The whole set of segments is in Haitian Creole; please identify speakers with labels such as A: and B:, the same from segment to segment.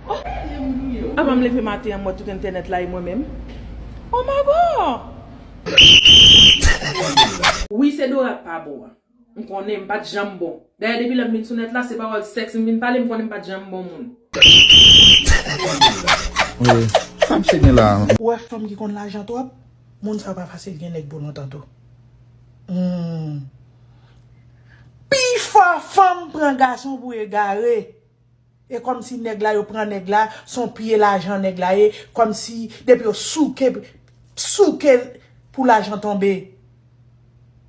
A: Oh men jan m gouye oh. Avan m leve maten an m wè tout entènèt la e mwen menm oh ma God. Wi se Dora k pa bon an. M konnen m pat janm bon. Dayè depi lè m vin sou nèt la se pawòl sèks m vin pale m konnen m pat janm bon moun. Mezanmi
B: sa misye gen la. Ou wè fanm ki konn
C: lajan twòp moun sa pa fasil gen nèg pou lontan tou humm pifò fanm pran gason pou egare. E kòmsi nèg la yo pran nèg la son pye lajan nèg la ye kòmsi depi yo souke souke pou lajan tonbe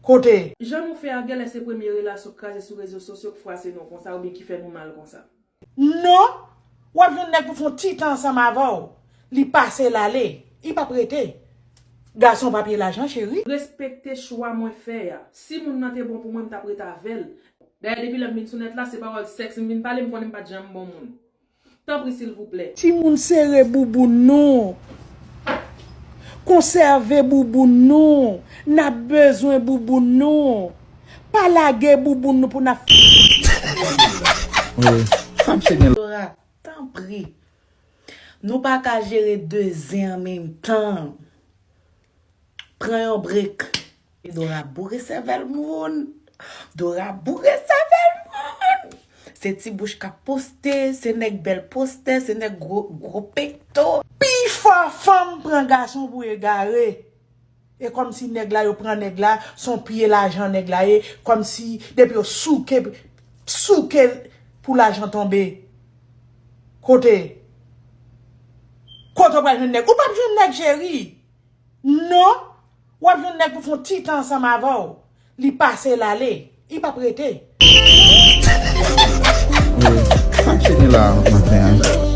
C: kote. Jan nou fè a
A: gèlè se premye relasyon kraze sou rezo sosyo k fwase nou konsa oubyen ki fè nou mal konsa. Non,
C: wap jwenn nèg pou fon ti tan ansanm avèw li pase lale i pap rete gason pa pye lajan cheri. Respekte chwa
A: mwen fè a. Si moun nan te bon pou mwen m tap ret avèl, Dayè depi lè m vin sou nèt la se pawòl sèks m vin pale m konnen m pat janm bon moun. Tanpri silvouplè. Timoun sere
C: bouboun nou. Konsève bouboun nou. N ap bezwen bouboun nou. Pa lage bouboun nou pou n ap fè sèks.
B: Zora, tanpri.
C: Nou pa ka jere 2 zen an menm tan. Pran yon break. E Dora boure sèvèl moun. Dora boure sèvèl moun. Se ti bouch kap poste, se nèg bèl postè, se nèg gwo pekto. Pi fò fanm pran gason pou egare. E kòm si nèg la yo pran nèg la, son piye lajan nèg la ye, kòm si depi yo souke souke pou lajan tonbe. Kote? Kote ou pral jwenn nèg? Ou pap jwenn nèg cheri. Non, Wap jwenn nèg pou fon ti tan ansanm avèw li pase lale I pap rete.
B: Sak
C: fini la
B: maten an.